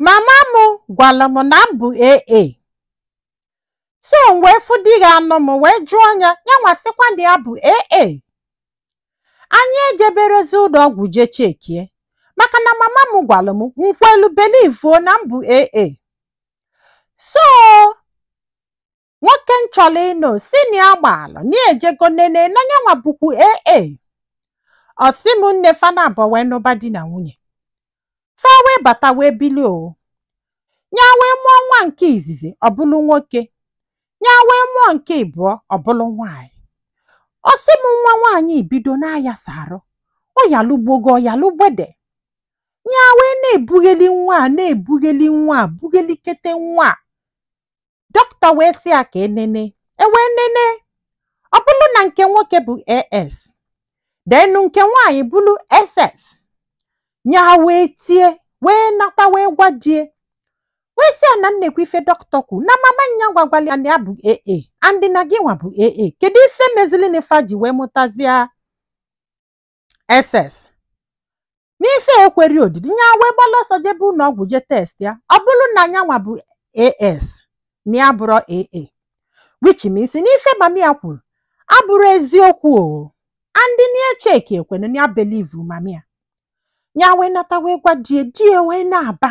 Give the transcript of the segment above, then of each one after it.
mama m gwalụ m na m bụ AA so m wee fụ di ga-anụ m wee jụọ ya ya nwa sịkwa na ya bụ AA anyị ejeberọzi ụnọ ọgwụ jee chekie maka na mama m gwalụ m m kwelu belivuo na m bụ AA so nwoke m chọrọ ịnụ sị na ya gbalụ na ya ejego nene na nyanwa bụkwu aa ọ sị m nne fa naabọ wee nụba di na nwunye fa wee bata wee bili o nya wee mụọ nwa nke izizi ọ bụlụ nwoke nya wee mụọ nke ịbụọ ọ bụlụ nwaanyị ọ sị m nwa nwaanyị ebido na-ayasa arụ ọ yalụ gbogo ọ yalụ gbede nya wee na-ebugheli nwa a na-ebugheli nwa a bughelikete nwa a dọkịta wee sị ya ka e nene e wee nene ọ bụlụ na nke nwoke bụ as then nke nwaanyị bụlụ ss nya wee tie wee nata wee gwa di ya wee sị ya na nekwa ife dọkịta kwu na mama nya gwakwalụ ya na ya bụ aa and na gị nwa bụ aa kedu ife mezili na fa ji wee mụtazia ss n'ife ekwerọ odidi nya wee gbala ọsọ jebe ụnọ ọgwụ je test ya ọ bụlụ na nyanwa bụ as na ya abụrọ aa which means n'ife mami ya kwuru abụrọ eziokwu o and na cheki ekwene na ya believe mami ya nya wee nata wee gwa di ya di ya wee na-aba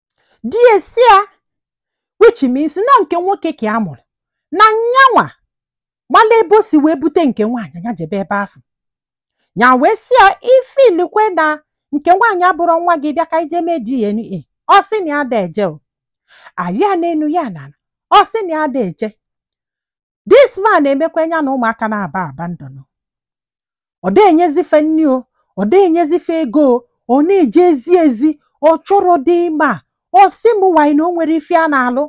di ya sị ya which means na nke nwoke ka ya mụrụ na nyanwa mala ebe o si wee bute nke nwaanyị ya jebe ebe afụ nya wee sị ya if i lokwe na nke nwaanyị abụrọ nwa gị bịa ka e je mee DNA ọ sị na ya ada eje o a yọọ ya n'enu ya n'ana ọ sị na ya ada eje this man emekwa nya na ụmụaka naabọ abandon ọ da enyezi fa nni o ọ da enyezi fa ego o ọ na-ejezi ezi ọ chọrọ dị ma ọ sị m nwanyị na o nwerọ ife ya na-alụ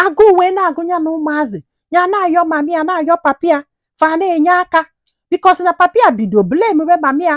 agụụ wee na-agụ ya na ụmụazị ya na-ayọ mami ya na-ayọ papi ya fa na-enye aka because na papi ya bido blame be mami ya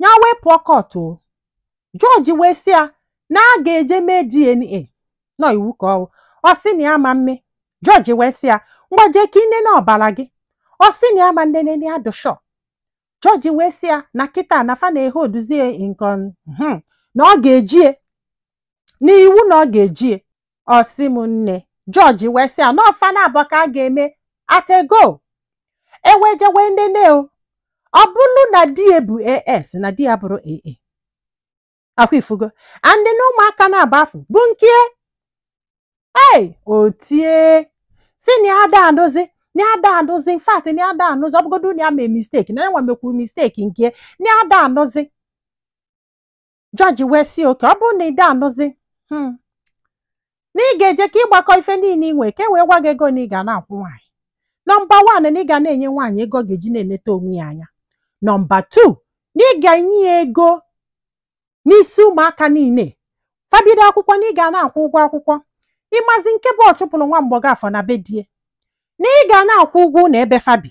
nya wee pụọ court o jọji wee sị ya na a ga-eje mee dna n'ọ iwu ka ọ wụ ọ sị na ya ama eme jọji wee sị ya ngwa jee ka e nene ọbala gị ọ sị na ya ama enene na ya dị sure jọji wee sị ya na kịta na fa na-ehe oduzie nkon na ọ ga-ejie n'iwu na ọ ga-ejie ọ sị m nne jọji wee sị ya na ọ fa naabọ ka a ga-eme atego e wee je wee nene o ọ bụlụ na di ya bụ as na di ya abụrọ aa ọ kwa ị fụgo and na ụmụaka naabọ afụ bụ nke ya o tie sị na ya ada anụzi na ya ada anụzi in fact na ya ada anụzi ọ bụgodu na ya mee mistake na ya nwa mekwu mistake nke na ya ada anụzi jọji wee sị oke ọ bụrụ na ị da anụzi hmm, na ị ga-eje ka ị gbakọ ife niile ị nwee ka e wee gwa gị ego na ị ga na-akwụ nwaanyị nọmba wan na ị ga na-enye nwaanyị ego ọ ga-eji na-eneta onwe ya anya nọmba tu na ị ga-enye ya ego n'isi ụmụaka niile fa bido akwụkwọ na ị ga na-akwụ ụgwọ akwụkwọ ị mazi nke bụ ọ chụpụrụ nwa mgbọgọ afụ na be di ya na ị ga na-akwụ ụgwọ ụlọ ebe fa bi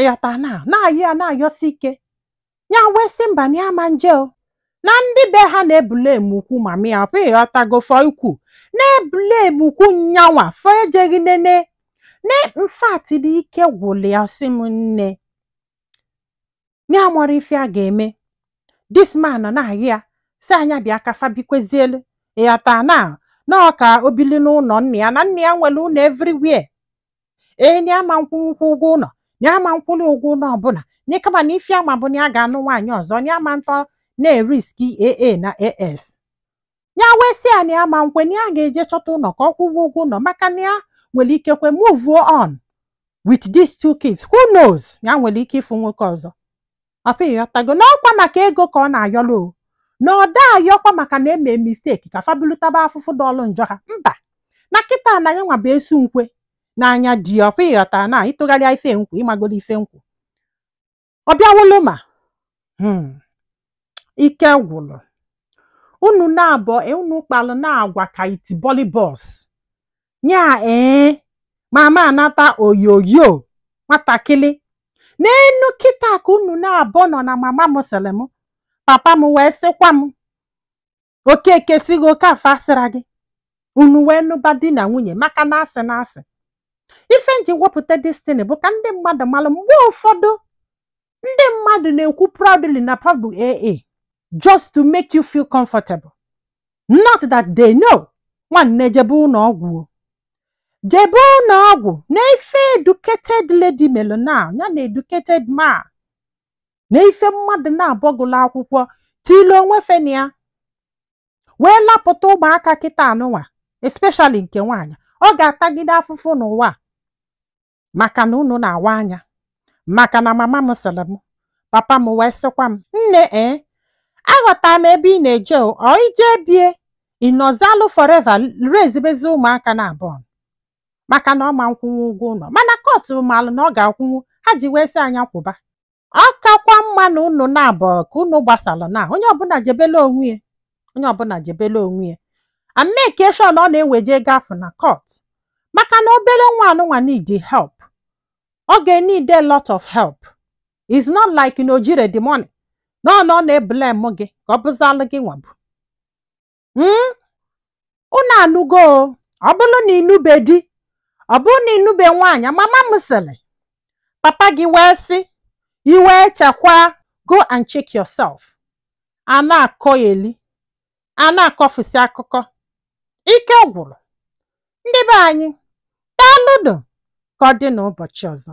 ịghọta na na-ayọ ya na-ayọsi ike ya wee sị mba na ya ma nje o na ndị be ha na-ebule emukwu ma mịa ọpụ ịghọtago fọ ikwu na-ebule emukwu nya nwa fọ ejeghị nene na in fact na ike gwụlụ ya sị m nne na ya amarọ ife a ga-eme dis man nọ na-ayọ ya sị ya nya bịa ka fa bikwezielu ịghọta na na ọ ka o bili n'ụlọ nna ya na nna ya nwere ụlọ everywhere ee na ama nkwụnwụkwụ ụgwọ ụlọ na ama nkwụlụ ụgwọ ụlọ ọbụla na kama na ife ya ma bụ na ya ga-anụ nwaanyị ọzọ na ama ntọ na-eriski aa na as ya wee sị ya na ya ma nkwe na ya ga-eje chọta ụlọ ka ọ kwụwa ụgwọ ụlọ maka na ya nwere ike kwe move on with these two kids who knows ya nwere ike ịfụ nwoke ọzọ ọkwa ịghọtago na ọkwa maka ego ka ọ na-ayọlụ o na ọ da ayọkwa maka na emee misteki ka fa bulu taba afụfụ dọlụ njọ ha mba na kịta na ya nwa bụ esu nkwe n'anya di ọkwa ịghọta na ị tụgharịa ife m kwu ị magolu ife m kwu ọ bịawolo ma hmm, ike gwụrụ unu naabọ unu kpalụ na-agwa ka itibọlịbọs nya ee mama anata oyoyo nwatakịrị n'enu kịta ka unu naabọ nọ na mama m sịrị m papa m wee sịkwa m okeke sị gị okafọ asịra gị unu wee nụba di na nwunye maka na asị na asị ife m ji wepụta this thing bụ ka ndị mmadụ malụ mgbe ụfọdụ ndị mmadụ na-ekwu proudly na fa bụ aa just to make you feel comfortable not that they know nwanne jebe ụlọ ọgwụ o. jebe ụlọ ọgwụ na ife educated lady melụ na ya na educated man na ife mmadụ naabọ gụlụ akwụkwọ tile onwe fa na ya wee lapụta ụmụaka kịta anụnwa especially nke nwaanyị ọ ga-atagide afụfụ n'ụwa a. maka na unu na-awa anya maka na mama m sịrị m papa m wee sịkwa m nne ee aghọtara m ebe ị na-eje o ọ ị je bie ị nọzalụ foreva rezibezi ụmụaka naabọ maka na ọ ma nkwụnwu ụgwọ ụlọ mana kọtụ malụ na ọ ga-akwụnwu ha ji wee sị ya nya kwụba ọ kakwa mma na unu naabụ ka unu gbasalụ na onye ọbụla jebele onwe ya onye ọbụla jebele onwe ya and make sure na eweje guy afụ na court maka na obere nwa anụnwa need help ọ ga-need a lot of help it's not like na o jire the money na ọ na ọ na-eblem gị ka ọ bụzalụ gị nwabụ hmm? unu anụgo ọ bụrụ na ị nụbe di ọ bụrụ na ị nụbe nwaanyị mama m sịrị papa gị wee sị iwe chekwa go and check yourself a na-akọ eli a na-akọfusi akụkọ ike gwụrụ ndị be anyị daalụnụ ka ọ dị n'ụbọchị ọzọ